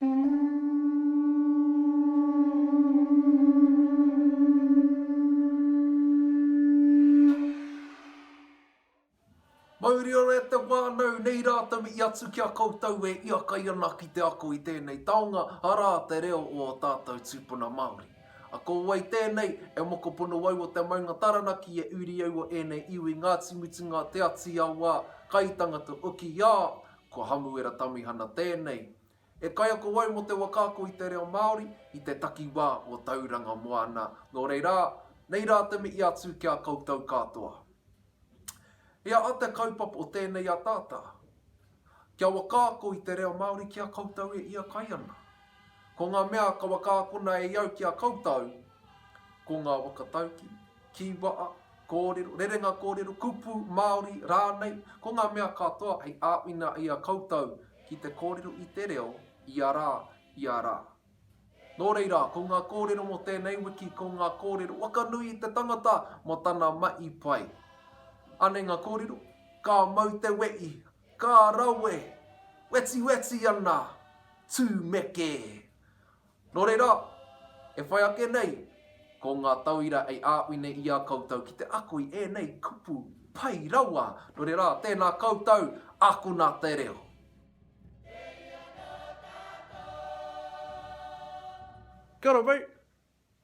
Mauri ora e te whānau, nei rā tau i atu ki a koutou e iakai ana ki te ako i tēnei taonga, arā, te reo o ō tātou tūpuna Māori. A ko wai tēnei, e mokopuna au o te maunga Taranaki e uri au o ēnei iwi Ngāti Mutunga, Te Ati Awa, Kaitangata Ukiā, Ko Hamuera Tamihana tēnei. E kaiako au mō te wakaako i te reo Māori, i te takiwā o Tauranga Moana. Nō reira, nei rā te mihi atu ki a koutou katoa. He aha te kaupapa o tēnei ataata? Kia wakaako i te reo Māori ki a koutou e ia kai ana. Ko ngā mea ka wakaakona e iau ki a koutou, ko ngā waka tauki, kīwaha, Kōrero, rerenga kōrero, kupu, Māori, rānei, ko ngā mea katoa hei āwhina i a koutou ki te kōrero i te reo ia rā, ia rā. Nō reira, ko ngā kōrero mō tēnei wiki, ko ngā kōrero whakanui i te tangata mō tana mahi pai. Anei ngā kōrero, Ka mau te wehi, ka rawe, wetiweti ana, tūmeke. Nō reira, e whai ake nei, ko ngā tauira hei āhui nei i a koutou ki te ako i ēnei kupu pai rawa. Nō reira, tēnā koutou, akona te reo. Kia ora, mate.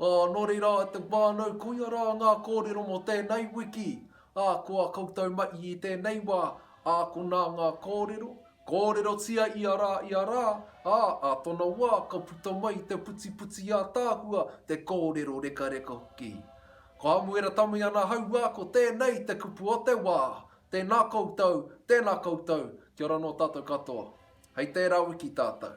Ā, nō reira, e te whānau, koia rā ngā kōrero mō tēnei wiki. Ā, ko a koutou mahi i tēnei wā, ākona ngā kōrero, kōrerotia ia rā, ia rā, ā, ā tōna wā, ka puta mai te putiputi ātaahua, te kōrero rekareka hoki. Ko Hamuera Tamiana Hauā, ko tēnei te kupu o te wā. Tēnā koutou, tēnā koutou, kia ora nō tātou katoa. Hei tērā wiki tātou.